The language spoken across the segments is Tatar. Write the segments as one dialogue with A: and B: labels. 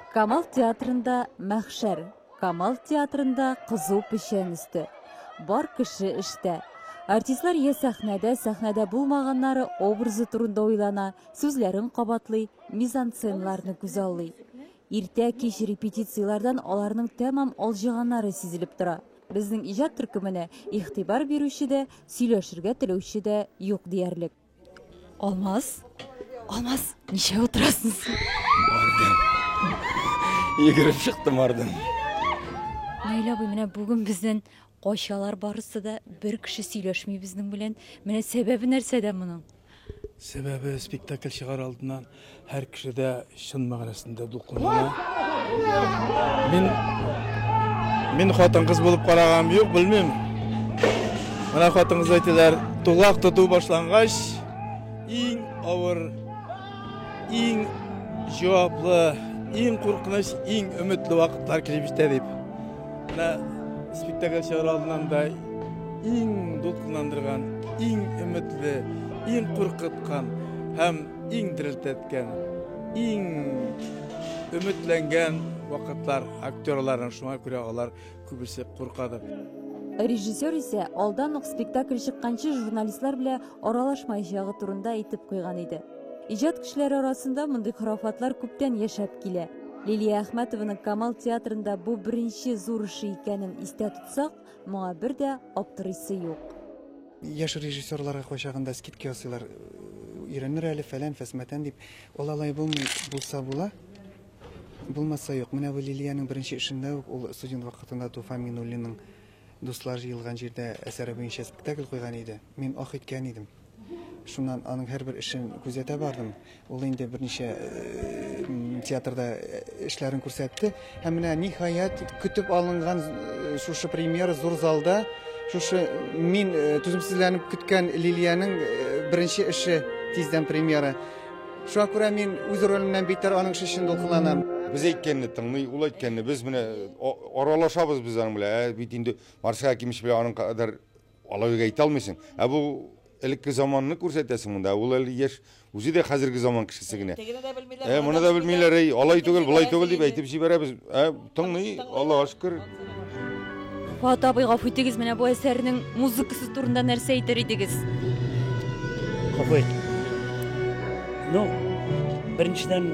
A: Камал театрында мәхшәр, Камал театрында кызу печән өсте. Бар кеше эштә. Артистлар я сәхнәдә, сәхнәдә булмаганнары образы турында уйлана, сүзләрен кабатлый, мизансценаларны күзаллый. Иртә кич репетицияләрдән аларның тәмам алҗыганнары сизелеп тора. Безнең иҗат төркеменә игътибар бирүче дә, сөйләшергә теләүче дә юк диярлек. Алмаз, Алмаз, ничә утырасың син? Бардым. Йөгереп чыктым бардым. Наилә абый, менә бүген бездән качалар барысы да, бер кеше сөйләшми безнең белән. Менә сәбәбе нәрсәдә моның? Сәбәбе спектакль чыгар алдыннан һәр кеше дә чын мәгънәсендә дулкынлана. Мин мин хатын-кыз булып карагам, юк, белмим. Менә хатын-кыз әйтәләр, тулак тоту башлангач, иң авыр, иң җаваплы, иң куркыныч, иң өметле вакытлар килеп җитә дип. Менә спектакль чыгар алдыннан да иң дулкынландырган, иң өметле, иң куркыткан һәм иң дерелтәткән, иң өметләнгән вакытлар актерларның шуңа күрә алар күбесе куркады. Режиссер исә алдан ук спектакль чыкканчы журналистлар белән аралашмаячагы турында әйтеп куйган иде. Иҗат кешеләре арасында мондый хорафатлар күптән яшәп килә. Лилия Әхмәтованың Камал театрында бу беренче зур эше икәнен истә тотсак, моңа бер дә аптырыйсы юк. Яшь режиссерларга кайчагында скидка ясыйлар. Өйрәнер әле фәлән, фәсмәтән дип. Ул алай булмый, булса була, булмаса юк. Менә бу Лилиянең беренче эшендә үк ул студент вакытында Туфан Минуллинның Дуслар җыелган җирдә әсәре буенча спектакль куйган иде. Мин ох иткән идем. Шуннан аның һәрбер эшен күзәтә бардым. Ул инде берничә театрда эшләрен күрсәтте. Һәм менә ниһаять көтеп алынган шушы премьера зур залда, шушы мин түземсезләнеп көткән Лилиянең беренче эше тиздән премьера. Шуңа күрә мин үз ролемнән битәр аның эше өчен дулкынланам. Без әйткәнне тыңлый, ул әйткәнне без менә Аралашабыз без аның белән. Ә бит инде Марсель Акимович белән аның кадәр алай генә әйтә алмыйсың. Ә бу элекке заманны күрсәтәсең монда. Ә ул әле яшь, үзе дә хәзерге заман кешесе генә. Тегене дә белмиләр, Ә моны да белмиләр, әй, алай түгел, болай түгел дип әйтеп җибәрәбез. Ә тыңлый, Аллага шөкер. Фат абый, гафу итегез, менә бу әсәрнең музыкасы турында нәрсә әйтер идегез? Гафу ит. Ну, беренчедән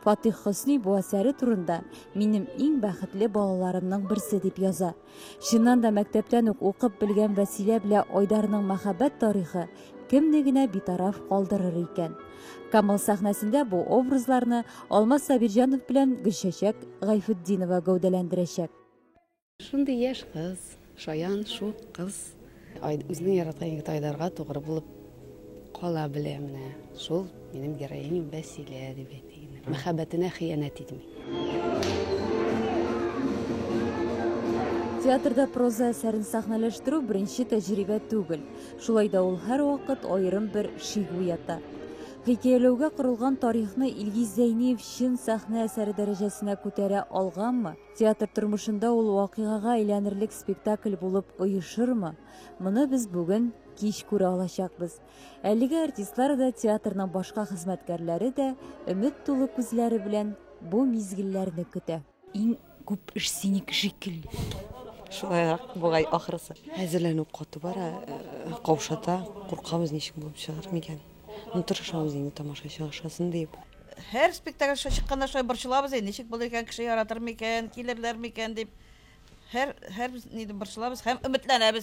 A: Фатих Хөсни бу әсәре турында Минем иң бәхетле балаларымның берсе дип яза. Чыннан да мәктәптән үк укып белгән Вәсилә белә Айдарның мәхәббәт тарихы кемне генә битараф калдырыр икән. Камыл сәхнәсендә бу образларны Алмаз Сабирҗанов белән Гөлчәчәк Гайфетдинова гәүдәләндерәчәк. Шундый яшь кыз, шаян, шук кыз. Үзенең яраткан егете Айдарга тугры булып кала белә менә. Шул минем героиням Вәсилә дип әйтик. Мәхәббәтенә хыянәт итми. Театрда проза әсәрен сәхнәләштерү беренче тәҗрибә түгел. Шулай да ул һәрвакыт аерым бер шик уята. Хикәяләүгә корылган тарихны Илгиз Зәйниев чын сәхнә әсәре дәрәҗәсенә күтәрә алганмы? Театр тормышында ул вакыйгага әйләнерлек спектакль булып оешырмы? Моны без бүген кич күрә алачакбыз. Әлеге артистлар да, театрның башка хезмәткәрләре дә өмет тулы күзләре белән бу мизгелләрне көтә. Иң күп эш синеке шикелле. Шулайрак бугай ахрысы. Әзерләнү каты бара, э, каушата, куркабыз ничек булып чыгар микән. Ну, тырышабыз инде тамашачы ашасын дип. Һәр спектакль аша чыкканда шулай борчылабыз инде, ничек булыр икән, кеше яратыр микән, килерләр микән дип. Һәр һәр ни дә борчылабыз һәм өметләнәбез.